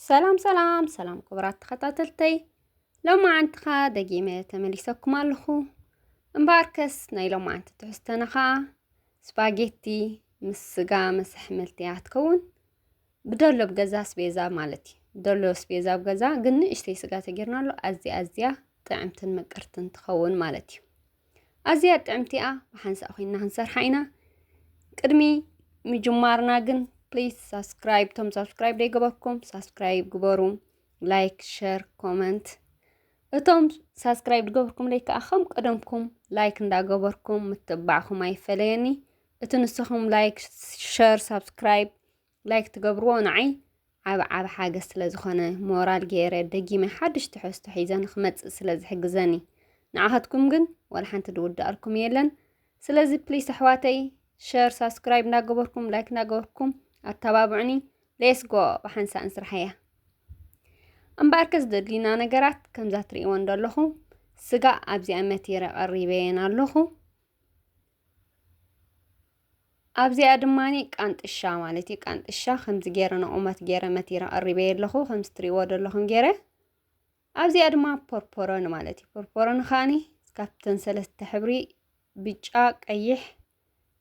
ሰላም ሰላም ሰላም ክቡራት ተኸታተልተይ ሎማዓንቲ ኸዓ ደጊመ ተመሊሰኩም ኣለኹ እምበኣርከስ ናይ ሎማዓንቲ ትሕዝተና ኸዓ ስፓጌቲ ምስ ስጋ ምስ ኣሕምልቲ እያ ትከውን ብደሎ ኣብ ገዛ ኣስቤዛ ማለት እዩ ብደሎ ኣስቤዛ ኣብ ገዛ ግን ንእሽተይ ስጋ ተጌርናሉ ኣዝያ ኣዝያ ጥዕምትን ምቅርትን ትኸውን ማለት እዩ ኣዝያ ጥዕምቲ እያ ብሓንሳእ ኮይና ክንሰርሓ ኢና ቅድሚ ምጅማርና ግን ፕሊዝ ሳብስክራይብ ቶም ሳብስክራይብ ደይገበርኩም ሳብስክራይብ ግበሩ ላይክ ሸር ኮመንት እቶም ሳብስክራይብ ዝገብርኩምለይ ከዓ ከም ቀደምኩም ላይክ እንዳገበርኩም ምትባዕኹም ኣይፈለየኒ እቲ ንስኹም ላይክ ሸር ሳብስክራይብ ላይክ ትገብርዎ ንዓይ ዓብ ዓብ ሓገዝ ስለ ዝኾነ ሞራል ገይረ ደጊመ ሓድሽ ትሕዝቶ ሒዘ ንክመፅእ ስለ ዝሕግዘኒ ንዓኻትኩም ግን ዋላ ሓንቲ ድውዳኣልኩም የለን ስለዚ ፕሊስ ኣሕዋተይ ሸር ሳብስክራይብ እናገበርኩም ላይክ እናገበርኩም ኣተባብዑኒ ሌስ ጎ ብሓንሳእ ንስራሕ እያ እምበኣር ከ ዝደድልዩና ነገራት ከምዛ ትርእይዎ እንደለኹም ስጋ ኣብዚኣ መቲረ ቀሪበየን ኣለኹ ኣብዚኣ ድማ ቃንጥሻ ማለት እዩ ቃንጥሻ ከምዚ ገይረ ንቑመት ገይረ መቲረ ቀሪበየ ኣለኹ ከምዚ ትሪእዎ ዘለኹም ገይረ ኣብዚኣ ድማ ፖርፖሮን ማለት እዩ ፖርፖሮን ከዓኒ ካብተን ሰለስተ ሕብሪ ብጫ ቀይሕ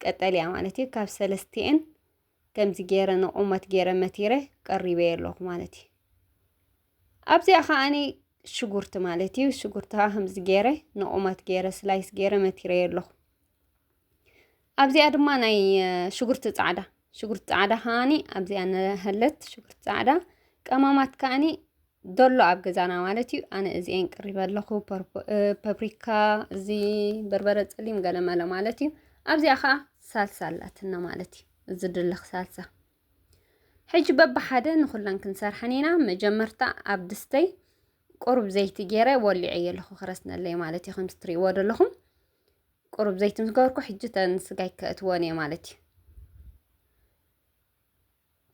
ቀጠልያ ማለት እዩ ካብ ሰለስቲኤን ከምዚ ገይረ ንቑመት ገይረ መቲረ ቀሪበዮ ኣለኹ ማለት እዩ ኣብዚኣ ከዓኒ ሽጉርቲ ማለት እዩ ሽጉርቲ ከዓ ከምዚ ገይረ ንቑመት ገይረ ስላይስ ገይረ መቲረዮ ኣለኹ ኣብዚኣ ድማ ናይ ሽጉርቲ ፃዕዳ ሽጉርቲ ፃዕዳ ከዓኒ ኣብዚኣ ንሃለት ሽጉርቲ ፃዕዳ ቀማማት ከዓኒ ዶሎ ኣብ ገዛና ማለት እዩ። ኣነ እዚኤን ቅሪበ ኣለኹ ፐብሪካ፣ እዚ በርበረ ፀሊም ገለመለ ማለት እዩ። ኣብዚኣ ከዓ ሳልሳ ኣላትና ማለት እዩ። እዚ ድልኽ ሳልሳ ሕጂ በብሓደ ንኹለን ክንሰርሐን ኢና። መጀመርታ ኣብ ድስተይ ቁሩብ ዘይቲ ገይረ ወሊዐየ ኣለኹ ክረስነለይ ማለት እዩ። ከምቲ ትሪእዎ ዘለኹም ቁሩብ ዘይቲ ምስ ገበርኩ ሕጂ ተን ስጋይ ከእትወን እየ ማለት እዩ።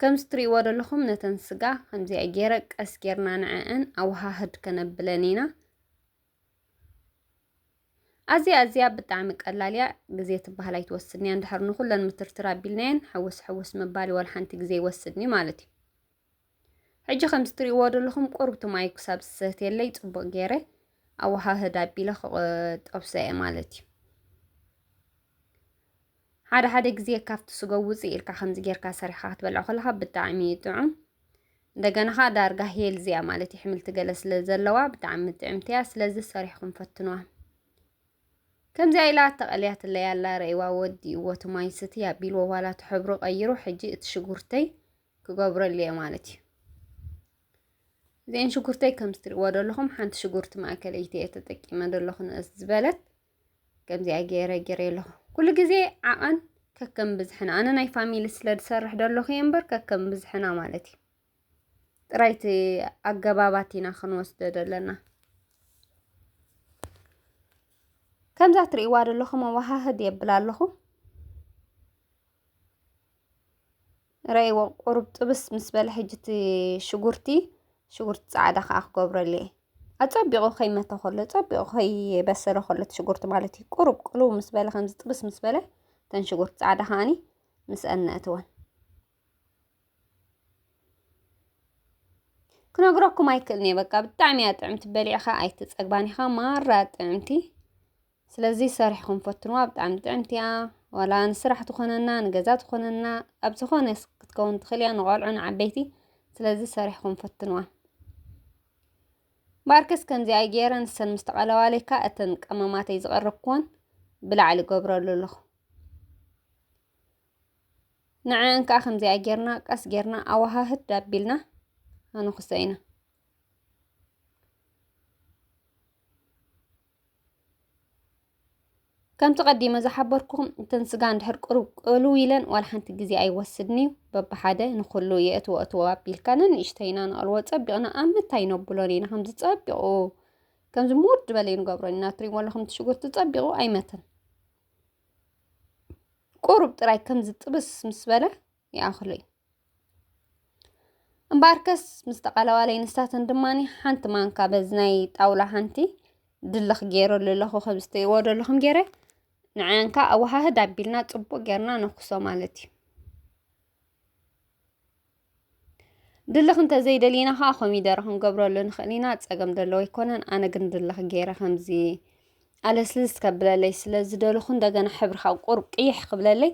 ከምዚ ትርእይዎ ዘለኹም ነተን ስጋ ከምዚኣ ገይረ ቀስ ጌርና ንዐአን ኣወሃህድ ከነብለን ኢና። ኣዝያ ኣዝያ ብጣዕሚ ቀላል እያ ግዜ ትበሃል ኣይትወስድን እያ እንድሕር ንኹለን ምትርትር ኣቢልናየን ሕውስ ሕውስ ምባል ወላ ሓንቲ ግዜ ይወስድን እዩ ማለት እዩ ሕጂ ከምዚ ትርእይዎ ዘለኹም ቁርብቲ ማይ ክሳብ ዝሰትየለይ ፅቡቅ ገይረ ኣወሃህድ ኣቢለ ጠብሰ እየ ማለት እዩ ሓደ ሓደ ግዜ ካብቲ ስጎ ውፅእ ኢልካ ከምዚ ጌርካ ሰሪሕካ ክትበልዖ ከለካ ብጣዕሚ እዩ ጥዑም እንደገና ከዓ ዳርጋ ሄልዝ እያ ማለት እዩ ሕምልቲ ገለ ስለ ዘለዋ ብጣዕሚ ጥዕምቲ እያ ስለዚ ሰሪሕኩም ፈትንዋ ከምዚያ ኢላ ተቐልያትለይ ኣላ ረእዋ ወዲእዎ እቲ ማይ ስቲ ኣቢልዎ ዋላ እቲ ሕብሩ ቀይሩ ሕጂ እቲ ሽጉርተይ ክገብረሉ እየ ማለት እዩ እዚአን ሽጉርተይ ከም ዝትሪእዎ ዘለኹም ሓንቲ ሽጉርቲ ማእከለይቲ እየ ተጠቂመ ዘለኹ ንእስ ዝበለት ከምዚኣ ገይረ ገይረ ኣለኹ ኩሉ ግዜ ዓቐን ከከም ብዝሕና ኣነ ናይ ፋሚሊ ስለ ዝሰርሕ ደለኹ እየ እምበር ከከም ብዝሕና ማለት እዩ ጥራይቲ ኣገባባት ኢና ክንወስደ ዘለና ከምዛ ትርእይዋ ደለኹም ኣወሃህድ የብል ኣለኹ ረይዎ ቁሩብ ጥብስ ምስ በለ ሕጂ እቲ ሽጉርቲ ሽጉርቲ ጻዕዳ ከዓ ክገብረሉ እየ ኣጸቢቑ ከይመተ ከሎ ጸቢቑ ከይበሰለ ከሎ እቲ ሽጉርቲ ማለት እዩ ቁሩብ ቅልው ምስ በለ ከምዚ ጥብስ ምስ በለ እተን ሽጉርቲ ጻዕዳ ከዓኒ ምስአን ነእትወን ክነግረኩም ኣይክእልን እየ በቃ ብጣዕሚ እያ ጥዕምቲ በሊዕኻ ኣይትጸግባን ኢኻ ማራ ጥዕምቲ ስለዚ ሰሪሕኹም ፈትንዋ ብጣዕሚ ጥዕምቲ እያ ዋላ ንስራሕ ትኾነና ንገዛ ትኾነና ኣብ ዝኾነ ክትከውን ትኽእል እያ ንቆልዑ ንዓበይቲ ስለዚ ሰሪሕኹም ፈትንዋ ባርከስ ከምዚኣ ገይረ ንሰን ምስ ተቐለባለይካ እተን ቀመማተይ ዝቐረብክወን ብላዕሊ ገብረሉ ኣለኹ ንዐን ከዓ ከምዚኣ ጌርና ቀስ ጌርና ኣዋሃህድ ዳቢልና ኣንኹሰ ኢና ከምቲ ቀዲመ ዝሓበርኩኹም እተን ስጋ እንድሕር ቅሩብ ቅልው ኢለን ዋላ ሓንቲ ግዜ ኣይወስድን እዩ በብሓደ ንኹሉ የእትዎ እትዎ ኣቢልካ ነንእሽተይ ኢና ንቐልዎ ጸቢቕና ኣብ ምታይ ነብሎን ኢና ከምዚ ጸቢቑ ከምዚ ሙድ ዝበለ ንገብሮ ኢና ትሪእዎ ኣለኹም እቲ ሽጉርቲ ጸቢቑ ኣይመትን ቁሩብ ጥራይ ከምዚ ጥብስ ምስ በለ ይኣኽሉይ። እምበኣርከስ ምስ ተቓላዋለይ ንሳተን ድማ ሓንቲ ማንካ በዚ ናይ ጣውላ ሓንቲ ድልኽ ገይረሉ ኣለኹ ከም ዝትይዎ ዘለኹም ገይረ ንዓያን ከዓ ኣወሃህድ ኣቢልና ፅቡቅ ጌርና ነኩሶ ማለት እዩ ድልኽ እንተዘይደሊና ከዓ ኮሚደረ ክንገብረሉ ንኽእል ኢና ፀገም ደለዎ ኣይኮነን ኣነ ግን ድልኽ ገይረ ከምዚ ኣለስልስ ከብለለይ ስለ ዝደልኹ እንደገና ሕብሪ ካብ ቁርብ ቅይሕ ክብለለይ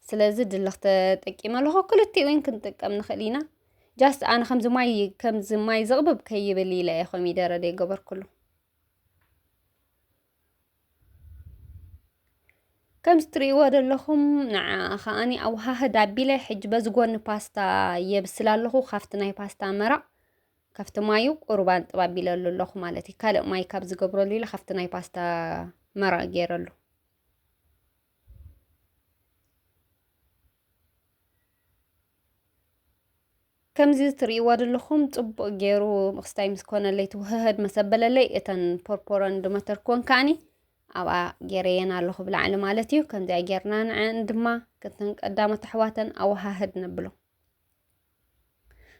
ስለዚ ድልኽ ተጠቂመ ኣለኹ ክልቲኡ ውን ክንጥቀም ንኽእል ኢና ጃስት ኣነ ከምዚ ማይ ከምዚ ማይ ዝቕብብ ከይብል ኢለ እየ ኮሚደረ ዘይገበርኩሉ ከምዚ ትርእይዎ ዘለኹም ንዓ ከዓኒ ኣወሃህድ ኣቢለ ሕጂ በዚ ጎኒ ፓስታ የብስል ኣለኹ ካብቲ ናይ ፓስታ መራቕ ካብቲ ማዩ ቁሩብ ኣንጥብ ኣቢለሉ ኣለኹ ማለት እዩ ካልእ ማይ ካብ ዝገብረሉ ኢለ ካብቲ ናይ ፓስታ መራቕ ገይረሉ ከምዚ ትርእይዋ ዘለኹም ጽቡቕ ገይሩ ምኽስታይ ምስ ኮነለይ ትውህህድ መስ ኣበለለይ እተን ፖርፖረን ድመተርክወን ከዓኒ ኣብኣ ገይረየን ኣለኹ ብላዕሊ ማለት እዩ ከምዚኣ ጌርና ንዐን ድማ ክተን ቀዳሞት ኣሕዋተን ኣወሃህድ ነብሎ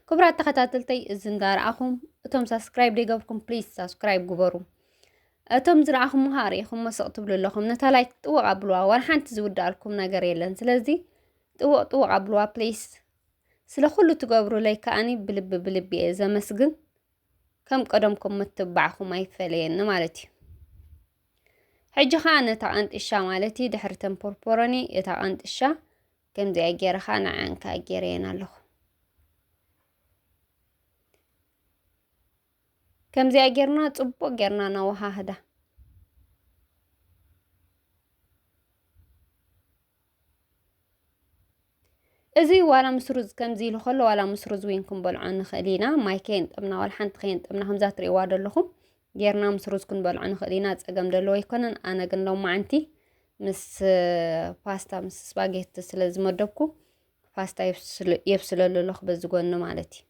ክቡራት ተኸታተልተይ እዚ እንዳረኣኹም እቶም ሳብስክራይብ ዘይገበርኩም ፕሊዝ ሳብስክራይብ ግበሩ። እቶም ዝረኣኹም ኸዓ ርኢኹሞ ስቕ ትብሉ ኣለኹም ነታ ላይክ ጥወቕ ኣብልዋ ዋላ ሓንቲ ዝውዳኣልኩም ነገር የለን። ስለዚ ጥወቕ ጥወቕ ኣብልዋ ፕሊዝ። ስለ ኩሉ ትገብሩለይ ከዓኒ ብልቢ ብልቢ እየ ዘመስግን። ከም ቀደምኩም ምትብባዕኩም ኣይፈለየኒ ማለት እዩ። ሕጂ ኸዓ ነታ ቐንጥሻ ማለት እዩ ድሕሪ ተን ፖርፖሮኒ እታ ቐንጥሻ ከምዚኣ ገይረ ከዓ ንዓን ከዓ ገይረየን ኣለኹ ከምዚኣ ጌርና ፅቡቅ ጌርና ነወሃህዳ እዚ ዋላ ምስ ሩዝ ከምዚ ኢሉ ከሎ ዋላ ምስ ሩዝ እውን ክንበልዖ ንኽእል ኢና ማይ ከየንጠብና ዋላ ሓንቲ ከየንጠብና ከምዛ ትርእይዋ ዘለኹም ጌርና ምስ ሩዝ ክንበልዖ ንኽእል ኢና ፀገም ደለዎ ኣይኮነን ኣነ ግን ሎማዓንቲ ምስ ፓስታ ምስ ስፓጌቲ ስለ ዝመደብኩ ፓስታ የብስለሉ ኣለኹ በዚ ጎኒ ማለት እዩ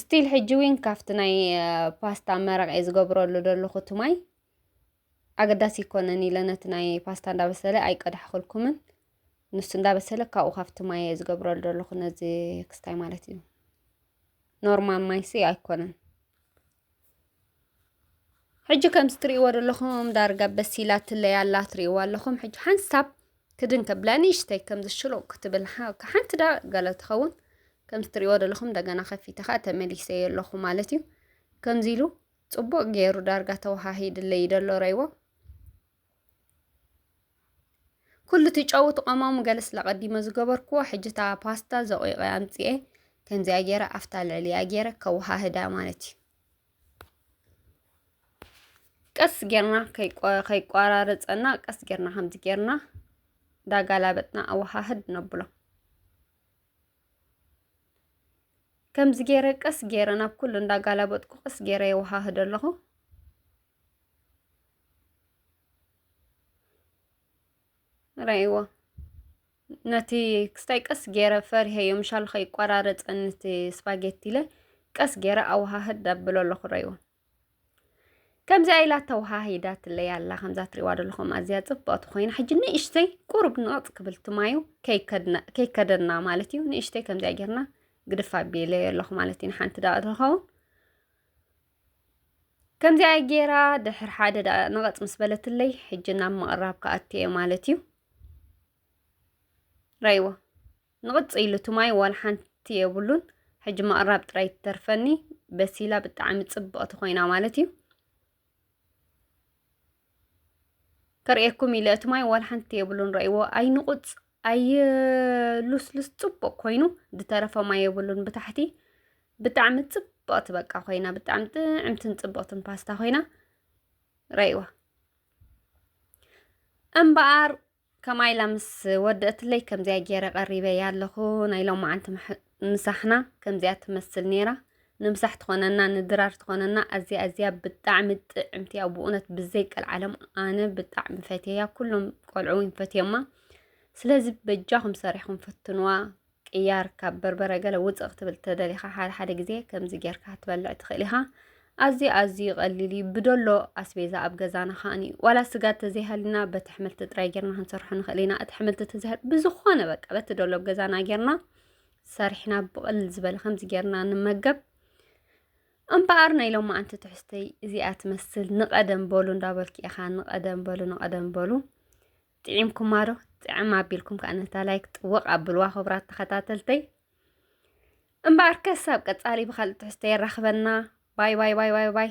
ስቲል ሕጂ እውን ካብቲ ናይ ፓስታ መረቕ እየ ዝገብረሉ ዘለኹ እቲ ማይ ኣገዳሲ ይኮነን ኢለ ነቲ ናይ ፓስታ እንዳበሰለ ኣይቀዳሕኩልኩምን ንሱ እንዳበሰለ ካብኡ ካብቲ ማይ እየ ዝገብረሉ ዘለኹ ነዚ ክስታይ ማለት እዩ ኖርማል ማይሲ ኣይኮነን ሕጂ ከምዚ ትርእይዎ ዘለኹም ዳርጋ በሲላ ትለይ ኣላ ትርእይዎ ኣለኹም ሕጂ ሓንሳብ ክድን ከብላ ንእሽተይ ከምዚ ሽሎቕ ክትብል ሓንቲ ዳ ገለ ትኸውን ከምዚ ትርእይዎ ዘለኹም እንደገና ከፊተ ከዓ ተመሊሰዮ ኣለኹ ማለት እዩ ከምዚ ኢሉ ጽቡቕ ገይሩ ዳርጋ ተወሃሂድለይ ደሎ ረይዎ ኩሉ እቲ ጨዉ እቲ ቀማሙ ገለ ስለ ቀዲመ ዝገበርክዎ ሕጂ እታ ፓስታ ዘቂቀ ኣምጺኤ ከምዚኣ ጌረ ኣብታ ልዕሊኣ ጌረ ከዋሃህዳ ማለት እዩ። ቀስ ጌርና ከይቋራረጸና ቀስ ጌርና ከምዚ ጌርና ዳጋላበጥና ኣዋሃህድ ነብሎ። ከምዚ ጌረ ቀስ ጌረ ናብ ኩሉ እንዳጋላበጥኩ ቀስ ጌረ የዋሃህዶ ኣለኹ። ራይዎ ነቲ ክስታይ ቀስ ገይረ ፈሪሀዮ ምሻሉ ከይቋራረፀኒ እቲ ስፓጌቲ ኢለ ቀስ ገይረ ኣወሃህድ ኣብሎ ኣለኹ ራይዎ ከምዚኣ ኢላ ተወሃሂዳትለይ ኣላ ከምዛ ትሪእዋ ዘለኹም ኣዝያ ፅብቕቲ ኮይና ሕጂ ንእሽተይ ቁሩብ ንቕፅ ክብል ትማዩ ከይከደና ማለት እዩ ንእሽተይ ከምዚኣ ጌርና ግድፍ ኣቢለዮ ኣለኹ ማለት እዩ ንሓንቲ ዳኣ ትኸውን ከምዚኣ ጌራ ድሕር ሓደ ደኣ ንቐፅ ምስ በለትለይ ሕጂ ናብ ምቕራብ ክኣቲ እየ ማለት እዩ ራይዎ ንቕፅ ኢሉ ትማይ ዋላ ሓንቲ የብሉን ሕጂ ምቕራብ ጥራይ ትተርፈኒ በሲላ ብጣዕሚ ፅብቕቲ ኮይና ማለት እዩ ከርእየኩም ኢለ እቲ ማይ ዋላ ሓንቲ የብሉን ረእይዎ ኣይንቁፅ ኣይሉስሉስ ፅቡቅ ኮይኑ ዝተረፈ ማይ የብሉን ብታሕቲ ብጣዕሚ ፅብቅቲ በቃ ኮይና ብጣዕሚ ጥዕምትን ፅብቅትን ፓስታ ኮይና ረእይዋ እምበኣር ከማይ ኢላ ምስ ወደእትለይ ከምዚኣ ገይረ ቀሪበያ ኣለኹ ናይ ሎማዓንቲ ምሕ- ምሳሕና ከምዚኣ ትመስል ነይራ ንምሳሕ ትኾነና ንድራር ትኾነና ኣዝያ ኣዝያ ብጣዕሚ ጥዕምቲ እያ ብእውነት ብዘይ ቀልዓለም ኣነ ብጣዕሚ ፈትየያ ኩሎም ቆልዑ እውን ፈትዮማ ስለዚ በጃኹም ሰሪሕኹም ፈትንዋ ቅያር ካብ በርበረ ገለ ውፅእ ክትብል ተደሊኻ ሓደ ሓደ ግዜ ከምዚ ጌርካ ክትበልዕ ትኽእል ኢኻ። ኣዝዩ ኣዝዩ ቀሊል እዩ። ብደሎ ኣስቤዛ ኣብ ገዛና ከዓኒ ዋላ ስጋ ተዘይሃልና በቲ ሕምልቲ ጥራይ ጌርና ክንሰርሖ ንኽእል ኢና። እቲ ሕምልቲ ተዘይሃል ብዝኾነ በቃ በቲ ደሎ ኣብ ገዛና ጌርና ሰሪሕና ብቕል ዝበለ ከምዚ ጌርና ንመገብ። እምበኣር ናይ ሎማዓንቲ ትሕዝተይ እዚኣ ትመስል። ንቐደም በሉ እንዳበልኪ ኢኻ ንቐደም በሉ ንቐደም በሉ። ጥዒምኩማ ዶ ጥዕም ኣቢልኩም ከዓ ነታ ላይክ ጥወቕ ኣብልዋ ክብራት ተኸታተልተይ እምበኣር ከስ ኣብ ቀጻሊ ብካልእ ትሕዝቶ የራኽበና ባይ ባይ ባይ ባይ ባይ